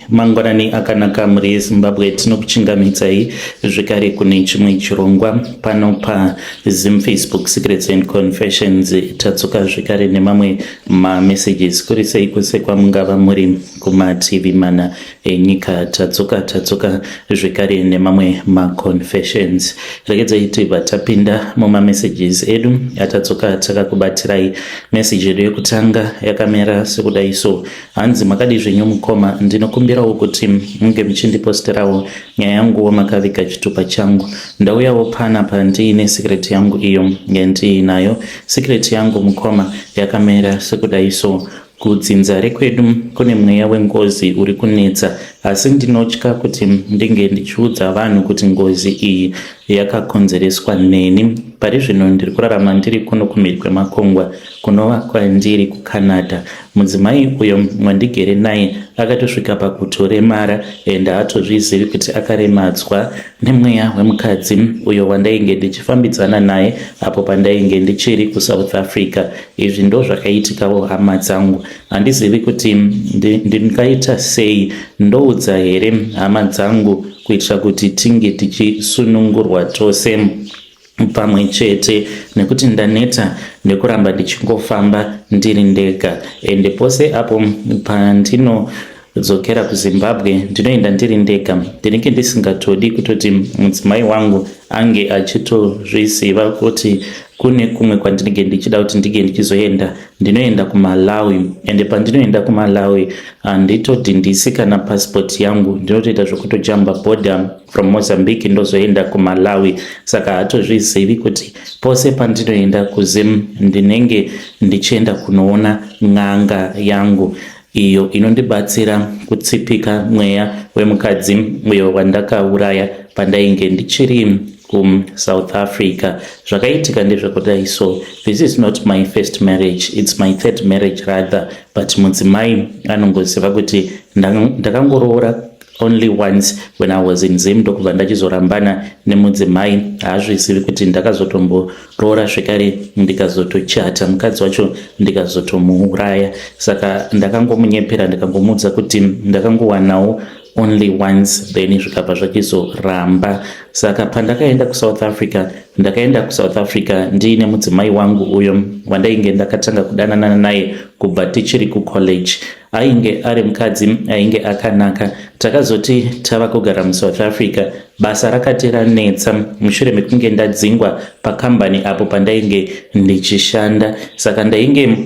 Mangwanani akanaka mhuri yeZimbabwe tinokuchingamidzai zvekare kune chimwe chirongwa pano paZim Facebook Secrets and Confessions tadzoka zvekare nemamwe mamessages kuri sei kwese kwamungava muri kumativi mana enyika tadzoka tadzoka zvekare nemamwe maconfessions regedzai tibva tapinda mumamessages edu atadzoka takakubatirai message yedu yekutanga yakamera sekudai so Hanzi makadii zvenyu mukoma, ndinokumbirawo kuti munge muchindiposterawo nyaya yanguwo makaviga chitupa changu. Ndauyawo panapa ndiine secret yangu iyo yandiinayo. Secret yangu mukoma yakamera sekudai so. Kudzinza rekwedu kune mweya wengozi uri kunetsa asi ndinotya kuti ndinge ndichiudza vanhu kuti ngozi iyi yakakonzereswa neni. Pari zvino ndiri kurarama ndiri kuno kumhiri kwemakungwa kunova kwandiri kuCanada. Mudzimai uyo mwandigere naye akatosvika pakutoremara and haatozvizivi kuti akaremadzwa nemweya wemukadzi uyo wandainge ndichifambidzana naye apo pandainge ndichiri kusouth africa izvi ndo zvakaitikawo hama dzangu handizivi kuti ndingaita sei ndoudza here hama dzangu kuitira kuti tinge tichisunungurwa tose pamwe chete nekuti ndaneta nekuramba ndichingofamba ndiri ndega ende pose apo pandino dzokera kuzimbabwe ndinoenda ndiri ndega ndinenge ndisingatodi kutoti mudzimai wangu ange achitozviziva kuti kune kumwe kwandinenge ndichida kuti ndinge ndichizoenda ndinoenda kumalawi ende pandinoenda kumalawi handitodhindisi kana pasipoti yangu ndinotoita zvekutojamba boda from Mozambique ndozoenda kuMalawi saka hatozvizivi kuti pose pandinoenda kuZim ndinenge ndichienda kunoona n'anga yangu iyo inondibatsira kutsipika mweya wemukadzi uyo wandakauraya pandainge ndichiri kuSouth Africa zvakaitika ndezvekudai so this is not my first marriage it's my third marriage rather but mudzimai anongoziva kuti ndakangoroora only once when i was in zim ndokubva ndachizorambana nemudzimai haazvizivi kuti ndakazotomboroora zvekare ndikazotochata mukadzi wacho ndikazotomuuraya saka ndakangomunyepera ndikangomuudza kuti ndakangowanawo only once then zvikabva zvachizoramba saka pandakaenda kusouth africa ndakaenda kusouth africa ndiine mudzimai wangu uyo wandainge ndakatanga kudananana naye kubva tichiri kucollege ainge ari mukadzi ainge akanaka takazoti tava kugara musouth africa basa rakati ranetsa mushure mekunge ndadzingwa pakambani apo pandainge ndichishanda saka ndainge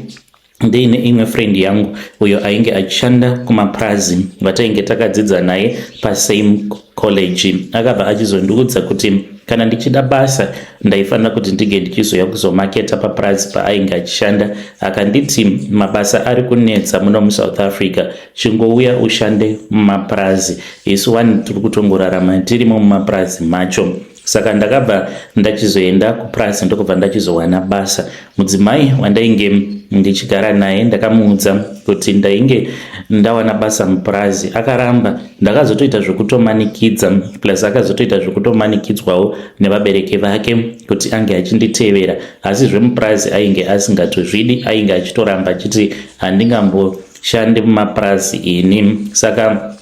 ndiine imwe friend yangu uyo ainge achishanda kumapurazi vatainge takadzidza naye pasame college akabva achizondiudza kuti kana ndichida basa ndaifanira kuti ndinge ndichizoya kuzomaketa papurazi paainge achishanda akanditi mabasa ari kunetsa muno musouth africa chingouya ushande mumapurazi isu wani tiri kutongorarama tirimo mumapurazi macho saka ndakabva ndachizoenda kupurazi ndokubva ndachizowana basa mudzimai wandainge ndichigara naye ndakamuudza kuti ndainge ndawana basa mupurazi akaramba ndakazotoita zvekutomanikidza plus akazotoita zvekutomanikidzwawo nevabereki vake kuti ange achinditevera asi zvemupurazi ainge asingatozvidi ainge achitoramba achiti handingamboshandi mumapurazi ini saka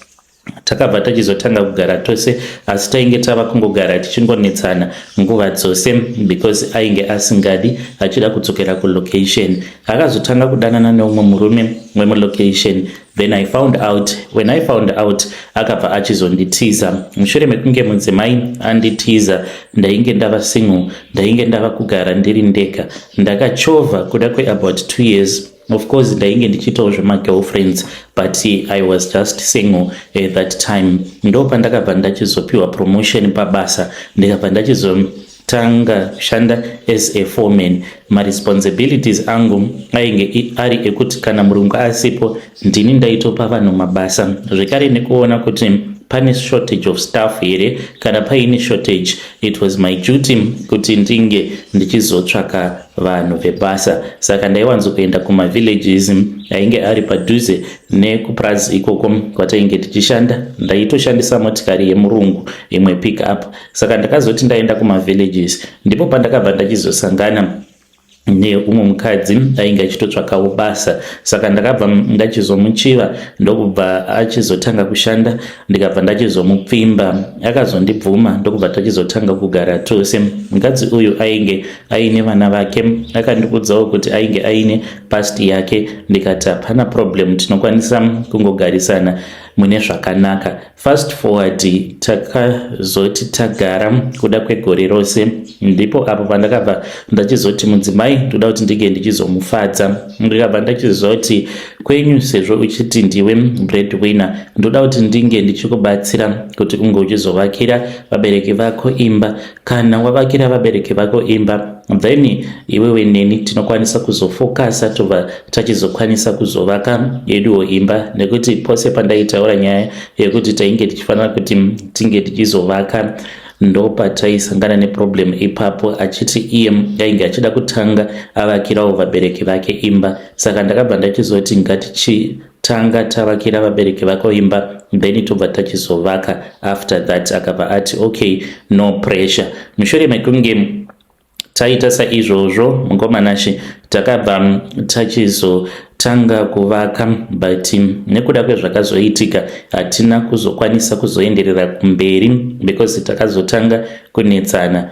takabva tachizotanga kugara tose asi tainge tava kungogara tichingonetsana nguva dzose because ainge asingadi achida kudzokera kulocation akazotanga kudanana neumwe murume wemulocation then i found out when i found out akabva achizonditiza mushure mekunge mudzimai anditiza ndainge ndava single ndainge ndava kugara ndiri ndega ndakachovha kuda kweabout two years Of course ndainge ndichiitawo zvemagirlfriends but I was just single at that time. Ndo pandakabva ndachizopiwa promotion pabasa ndikabva ndachizotanga kushanda as a foreman. Maresponsibilities angu ainge ari ekuti kana murungu asipo ndini ndaitopa vanhu mabasa zvekare nekuona kuti pane shortage of staff here kana paine shortage it was my duty kuti ndinge ndichizotsvaka vanhu vebasa saka ndaiwanzo kuenda kumavillages ainge ari padhuze nekupurazi ikoko kwatainge tichishanda ndaitoshandisa motikari yemurungu imwe pick up saka ndakazoti ndaenda kumavillages ndipo pandakabva ndachizosangana neumwe mukadzi ainge achitotsvakawo basa saka ndakabva ndachizomuchiva ndokubva achizotanga kushanda ndikabva ndachizomupfimba akazondibvuma ndokubva tachizotanga kugara tose mukadzi uyu ainge aine vana vake akandikudzawo kuti ainge aine past yake ndikati hapana problem tinokwanisa kungogarisana mune zvakanaka Fast forward takazoti tagara kuda kwegore rose ndipo apo pandakabva ndachizoti mudzimai ndoda kuti ndinge ndichizomufadza ndikabva ndachizoti kwenyu sezvo uchiti ndiwe breadwinner ndoda kuti ndinge ndichikubatsira kuti unge uchizovakira vabereki vako imba kana wavakira vabereki vako imba then iwewe neni tinokwanisa kuzofokasa tobva tachizokwanisa kuzovaka yeduwo imba nekuti pose pandaitaura nyaya yekuti tainge tichifanira kuti tinge tichizovaka ndopataisangana neproblem ipapo achiti iye ainge achida kutanga avakirawo vabereki vake imba saka ndakabva ndachizoti tanga tavakira vabereki vako imba then tobva tachizovaka after that akabva ati okay no pressure mushure mekunge taita saizvozvo mukomanashe takabva tachizo tanga kuvaka but nekuda kwezvakazoitika hatina kuzokwanisa kuzoenderera kumberi because takazotanga kunetsana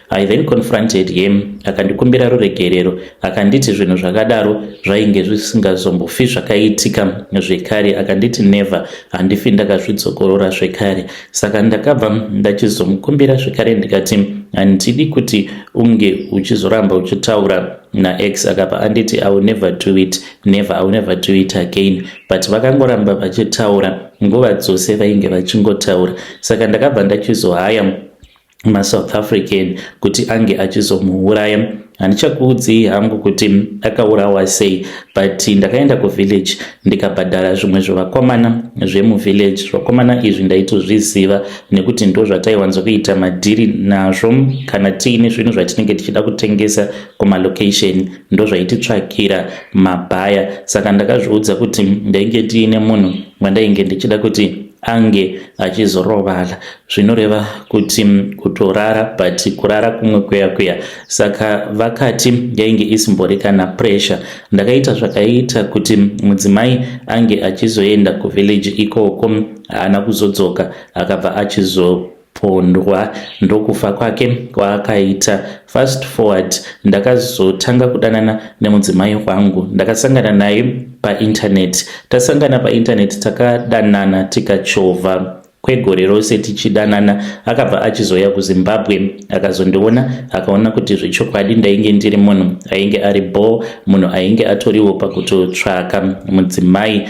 I then confronted him akandikumbira ruregerero akanditi zvinhu zvakadaro zvainge zvisingazombofi zvakaitika zvekare akanditi never handifi ndakazvidzokorora zvekare saka ndakabva ndachizomukumbira zvekare ndikati handidi kuti unge uchizoramba uchitaura naex akabva anditi i will never do it never i will never do it again but vakangoramba vachitaura nguva dzose vainge vachingotaura saka ndakabva ndachizohaya masouth african kuti ange achizomuuraya handichakuudzii hangu kuti akaurawa sei but ndakaenda kuvillage ndikabhadhara zvimwe zvevakomana zvemuvillage zvakomana izvi ndaitozviziva nekuti ndo zvataiwanzo kuita madhiri nazvo kana tiine zvinhu zvatinenge tichida kutengesa kumalocation ndo zvaititsvakira mabhaya saka ndakazviudza kuti ndainge tiine munhu wandainge ndichida kuti ange achizorovala zvinoreva kuti kutorara but kurara kumwe kuya kuya saka vakati yainge isimbori kana pressure ndakaita zvakaita kuti mudzimai ange achizoenda kuvillage ikoko haana kuzodzoka akabva achizo pondwa ndokufa kwake kwaakaita fast forward ndakazotanga kudanana nemudzimai wangu ndakasangana naye paintaneti tasangana paintaneti takadanana tikachovha kwegore rose tichidanana akabva achizouya kuzimbabwe akazondiona akaona kuti zvechokwadi ndainge ndiri munhu ainge ari bhoo munhu ainge atoriwo pakutotsvaka mudzimai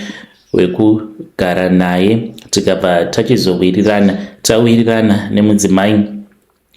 wekugara naye tikabva tachizowirirana tawirirana nemudzimai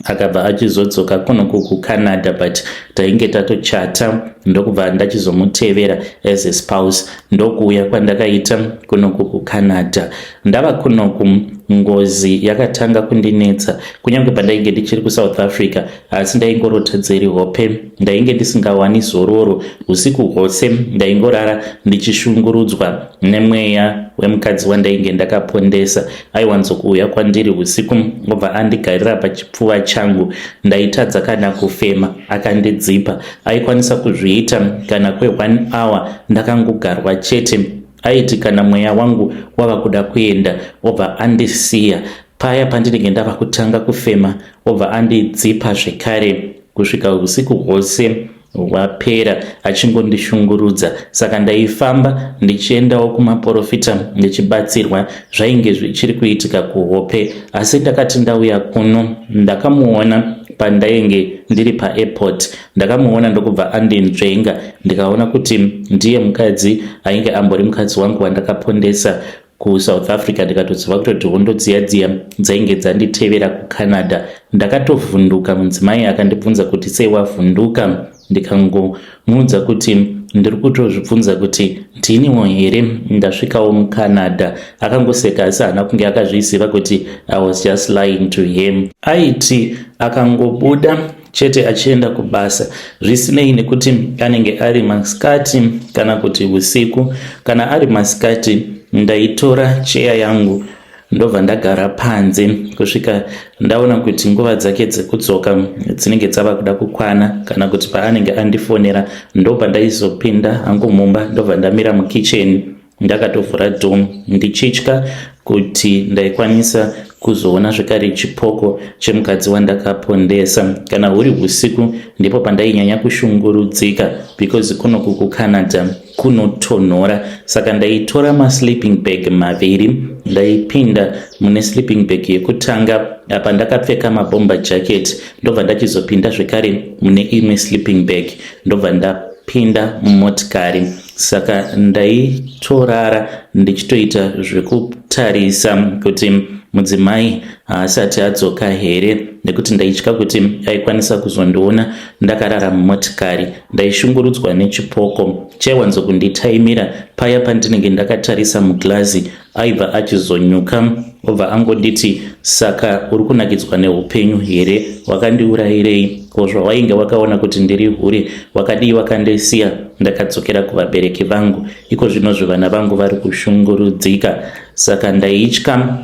akabva achizodzoka kuno kucanada but tainge tatochata ndokubva ndachizomutevera as a spouse ndokuuya kwandakaita kunoku kucanada ndava kunoku ngozi yakatanga kundinetsa kunyange pandainge ndichiri kusouth africa asi ndaingorota dziri hope ndainge ndisingawani zororo usiku hwose ndaingorara ndichishungurudzwa nemweya wemukadzi wandainge ndakapondesa aiwanzo kuuya kwandiri usiku obva andigarira pachipfuva changu ndaitadza kana kufema akandidzipa aikwanisa kuzviita kana kwe one hour ndakangogarwa chete aiti kana mweya wangu wava kuda kuenda obva andisiya paya pandinenge ndava kutanga kufema obva andidzipa zvekare kusvika usiku hwose wapera achingondishungurudza saka ndaifamba ndichiendawo kumaporofita ndichibatsirwa zvainge zvichiri kuitika kuhope asi ndakati ndauya kuno ndakamuona pandainge ndiri paairport ndakamuona ndokubva andinzvenga ndikaona kuti ndiye mukadzi ainge ambori mukadzi wangu wandakapondesa KuSouth Africa ndikatoziva kutoti hondo dziya dziya dzainge dzanditevera kuCanada. Ndakatovhunduka mudzimai akandibvunza kuti sei wavhunduka ndikangomuudza kuti ndiri kutozvibvunza kuti ndiniwo here ndasvikawo mucanada akangoseka asi haana kunge akazviziva kuti i was just lying to him aiti akangobuda chete achienda kubasa zvisinei nekuti anenge ari masikati kana kuti usiku kana ari masikati ndaitora cheya yangu ndobva ndagara panze kusvika ndaona kuti nguva dzake dzekudzoka dzinenge dzava kuda kukwana kana kuti paanenge andifonera ndobva ndaizopinda hangu mumba ndobva ndamira mukicheni Ndakatovhura dom ndichitya kuti ndaikwanisa kuzoona zvekare chipoko chemukadzi wandakapondesa. Kana huri husiku ndipo pandainyanya kushungurudzika because kunoku kuCanada kunotonhora saka ndaitora masleeping bag maviri ndaipinda mune sleeping bag yekutanga apa ndakapfeka mabomba jacket ndobva ndachizopinda zvekare mune imwe sleeping bag ndobva ndapinda mumotikari saka ndaitorara ndichitoita zvekutarisa kuti mudzimai haasati adzoka here nekuti ndaitya kuti aikwanisa kuzondiona ndakarara mumotikari ndaishungurudzwa nechipoko chaiwanzokunditaimira paya pandinenge ndakatarisa muglazi aibva achizonyuka obva angonditi saka uri kunakidzwa neupenyu here wakandiurayirei ko zvawainge wakaona kuti ndiri hure wakadii wakandisiya ndakadzokera kuvabereki vangu iko zvino zvivana vangu vari kushungurudzika saka ndaitya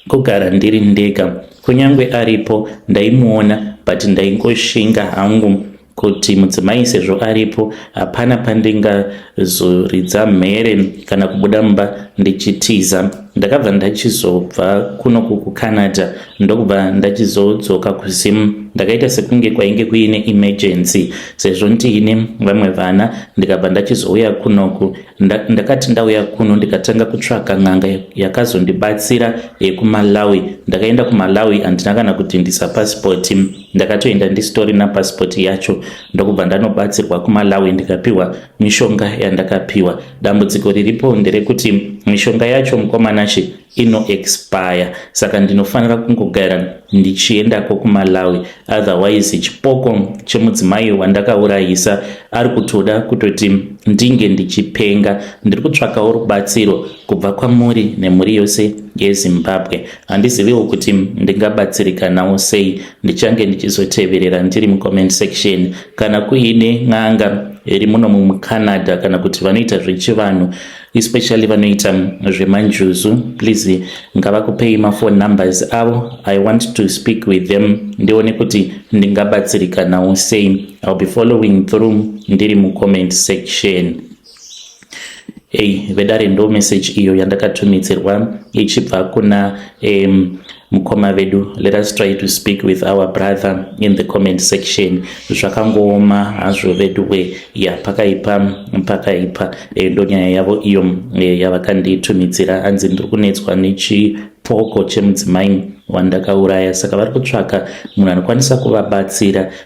kugara ndiri ndega kunyange aripo ndaimuona but ndaingoshinga hangu kuti mudzimai sezvo aripo hapana pandingazoridza mhere kana kubuda mumba ndichitiza ndakabva ndachizobva kuno kukucanada ndokubva ndachizodzoka kuzim ndakaita sekunge kwainge kuine emergency sezvo ndiine vamwe vana ndikabva ndachizouya kunoku ndakati ndauya kuno ndikatanga kutsvaka n'anga yakazondibatsira yekumalawi ndakaenda kumalawi handina kana kutindisa pasipoti ndakatoenda ndisitorina pasipoti yacho ndokubva ndanobatsirwa kumalawi ndikapiwa mishonga yandakapiwa dambudziko riripo nderekuti mishonga yacho mukomanashe inoexpire saka ndinofanira kungogara ndichiendako kumalawi otherwise chipoko chemudzimai wandakaurayisa ari kutoda kutoti ndinge ndichipenga ndiri kutsvakawo rubatsiro kubva kwamuri nemhuri yose yezimbabwe handiziviwo kuti ndingabatsirika nawo sei ndichange ndichizoteverera ndiri mucomment section kana kuine n'anga iri muno mucanada kana kuti vanoita zvechivanhu especially vanoita zvemanjuzu please ngavakupei mafone numbers avo i want to speak with them ndione kuti ndingabatsirikanawo sei ill be following through ndiri mucomment section Hey, vedare ndo message iyo yandakatumidzirwa ichibva kuna um, mukoma vedu let us try to speak with our brother in the comment section zvakangooma hazvo veduwe ya pakaipa pakaipa e, ndonyaya yavo iyo e, yavakanditumidzira anzi ndiri kunetswa nechipoko chemudzimai wandakauraya saka vari kutsvaka munhu anokwanisa kuvabatsira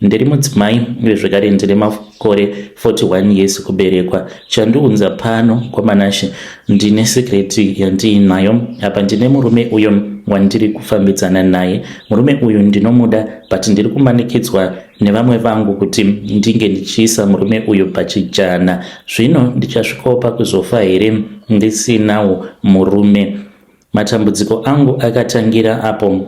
Ndiri mudzimai uye zvekare ndine makore 41 years kuberekwa. Chandiunza pano kwaManashe ndine secret yandiinayo. Apa ndine murume uyo wandiri kufambidzana naye. Murume uyu ndinomuda but ndiri kumanikidzwa nevamwe vangu kuti ndinge ndichiisa murume uyu pachijana. Zvino ndichasvikopa kuzofa here ndisinawo murume? Matambudziko angu akatangira apo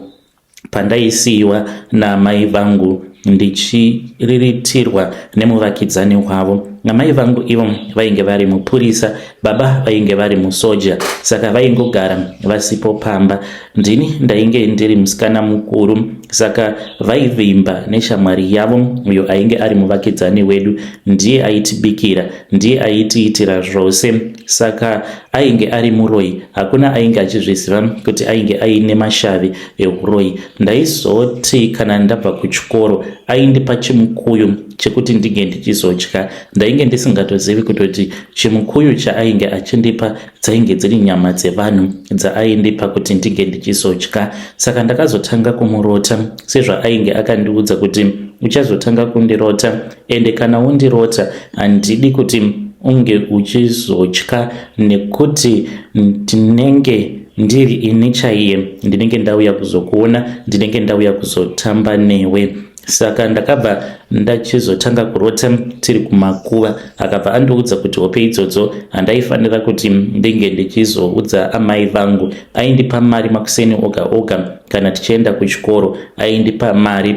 Pandaisiiwa naamai vangu ndichiriritirwa nemuvakidzani wavo, amai vangu ivo vainge vari mupurisa, baba vainge vari musoja, saka vaingogara vasipo pamba. Ndini ndainge ndiri musikana mukuru, saka vaivimba neshamwari yavo uyo ainge ari muvakidzani wedu. Ndiye aitibikira, ndiye aitiitira zvose. Saka ainge ari muroyi, hakuna ainge achizviziva kuti ainge aine mashavi ehuroyi. Ndaizoti kana ndabva kuchikoro aindipa chimukuyu chekuti ndinge ndichizodya. Ndainge ndisingatozivi kutoti chimukuyu chaainge achindipa dzainge dziri nyama dzevanhu dzaaindipa kuti ndinge ndichizodya. Saka ndakazotanga kumurota sezvaainge akandiudza kuti uchazotanga kundirota ende kana wondirota handidi kuti unge uchizotya nekuti ndinenge ndiri ini chaiye ndinenge ndauya kuzokuona ndinenge ndauya kuzotamba newe saka ndakabva ndachizotanga kurota tiri kumakuva akabva andiudza kuti hope idzodzo handaifanira kuti ndinge ndichizoudza amai vangu aindipa mari makuseni oga oga kana tichienda kuchikoro aindipa mari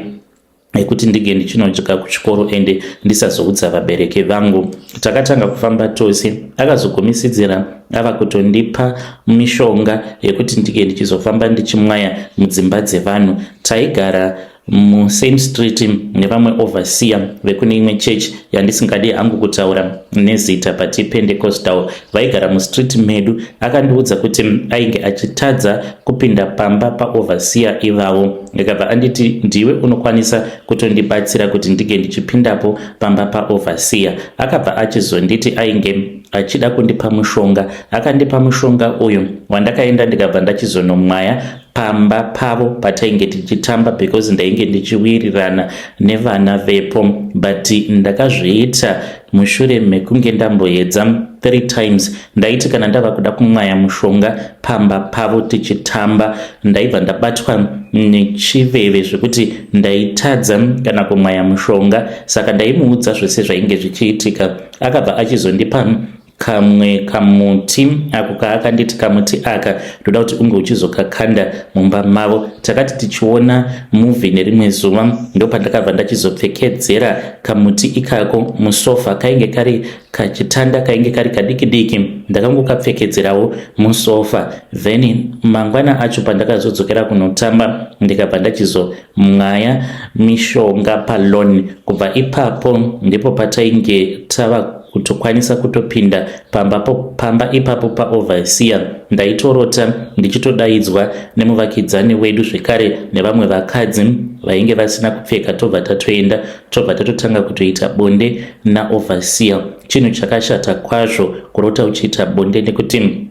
yekuti ndinge ndichinodya kuchikoro ende ndisazoudza vabereki vangu. Takatanga kufamba tose, akazogumisidzira ava kutondipa mishonga yekuti ndinge ndichizofamba ndichimwaya mudzimba dzevanhu. Taigara musame street nevamwe overseer vekune imwe church yandisingadi hangu kutaura nezita but ipendecostal vaigara mustreet medu akandiudza kuti ainge achitadza kupinda pamba paoverseer ivavo ndikabva anditi ndiwe unokwanisa kutondibatsira kuti ndinge ndichipindapo pamba paoverseer akabva achizonditi ainge achida kundipa mushonga akandipa mushonga uyu wandakaenda ndikabva ndachizonomwaya pamba pavo patainge tichitamba because ndainge ndichiwirirana nevana vepo but ndakazviita mushure mekunge ndamboedza three times ndaiti kana ndava kuda kumwaya mushonga pamba pavo tichitamba ndaibva ndabatwa nechiveve zvekuti ndaitadza kana kumwaya mushonga saka ndaimuudza zvese zvainge zvichiitika akabva achizondipa kamwe kamuti ako kaakanditi kamuti aka ndoda kuti unge uchizokakanda mumba mavo takati tichiona muvi nerimwe zuva ndopandakabva ndachizopfekedzera kamuti ikako musofa kainge kari kachitanda kainge kari kadiki diki ndakangokapfekedzerawo musofa then mangwana acho pandakazodzokera kunotamba ndikabva ndachizo Mwaya mishonga paloan kubva ipapo ndipo patainge tava kutokwanisa kutopinda pamba, pamba ipapo paoverseer ndaitorota ndichitodaidzwa nemuvakidzani wedu zvekare nevamwe vakadzi vainge vasina kupfeka tobva tatoenda tobva tatotanga kutoita bonde naoverseer chinhu chakashata kwazvo kurota uchiita bonde nekuti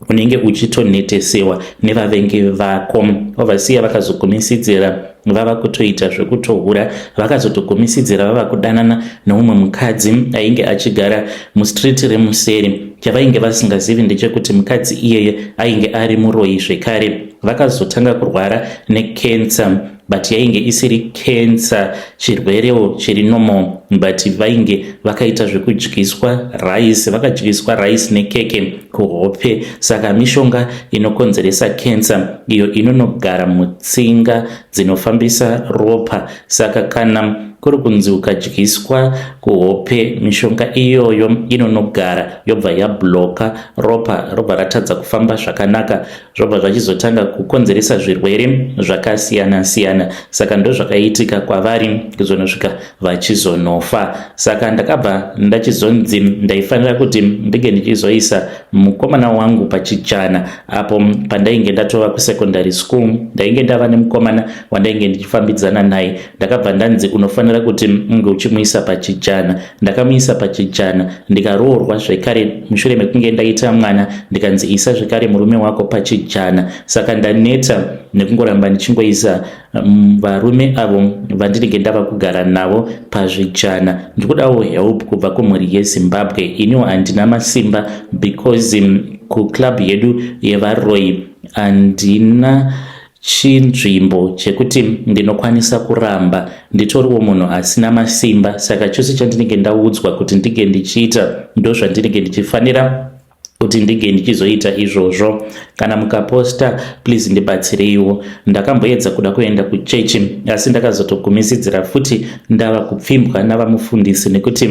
unenge uchitonhetesewa nevavengi vako ovasiya vakazogumisidzira vava kutoita zvekutohura vakazotogumisidzira vava kudanana neumwe mukadzi ainge achigara mustreet remuseri chavainge vasingazivi ndechekuti mukadzi iyeye ainge ari muroyi zvekare vakazotanga kurwara nekensa but yainge isiri cancer chirwerewo chiri normal but vainge vakaita zvekudyiswa rice vakadyiswa rice nekeke kuhope saka mishonga inokonzeresa cancer iyo inonogara mutsinga dzinofambisa ropa saka kana kuri kunzi ukadyiswa kuhope mishonga iyoyo inonogara yobva yabloka ropa robva ratadza kufamba zvakanaka zvobva zvachizotanga kukonzeresa zvirwere zvakasiyana siyana saka ndozvakaitika kwavari kuzonosvika vachizonofa saka ndakabva ndachizonzi ndaifanira kuti ndinge ndichizoisa mukomana wangu pachichana apo pandainge ndatova kusekondary school ndainge ndava nemukomana wandainge ndichifambidzana naye ndakabva ndanzi unofanira kuti unge uchimuisa pachijana ndakamuisa pachijana ndikaroorwa zvekare mushure mekunge ndaita mwana ndikanzi isa zvekare murume wako pachijana saka ndaneta nekungoramba ndichingoisa mm, varume avo vandinenge ndava kugara navo pazvijana ndikudawo help kubva kumhuri yezimbabwe iniwo handina masimba because mm, kuclub yedu yevaroyi handina chinzvimbo chekuti ndinokwanisa kuramba nditoriwo munhu asina masimba saka chose chandinenge ndaudzwa kuti ndinge ndichiita ndozvandinenge ndichifanira kuti ndinge ndichizoita izvozvo kana mukaposta please ndibatsireiwo ndakamboedza kuda kuenda kuchechi asi ndakazotogumisidzira futi ndava kupfimbwa navamufundisi nekuti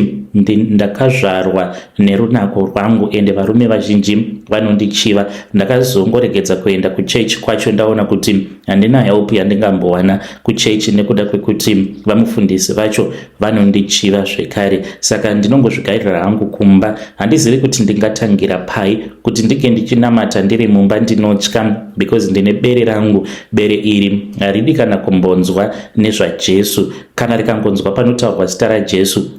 ndakazvarwa nerunako rwangu ende varume vazhinji vanondichiva ndakazongoregedza kuenda kuchechi kwacho ndaona kuti handina help yandingambowana kuchechi nekuda kwekuti vamufundisi vacho vanondichiva zvekare saka ndinongozvigairira hangu kumba handizivi kuti ndingatangira pai kuti ndike ndichinamata ndiri mumba ndinotya because ndine bere rangu bere iri haridi kana kumbonzwa nezvajesu kana rikangonzwa panotaurwa zita rajesu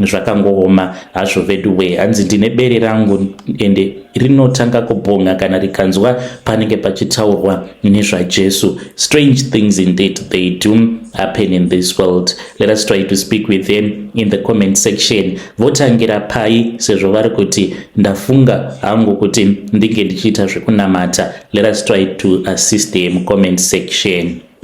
zvakangooma hazvo veduwee hanzi ndine bere rangu ende rinotanga kubhonga kana rikanzwa panenge pachitaurwa nezvajesu strange things indeed they do happen in this world let us try to speak with them in the comment section votangira pai sezvo vari kuti ndafunga hangu kuti ndinge ndichiita zvekunamata let us try to assist them comment section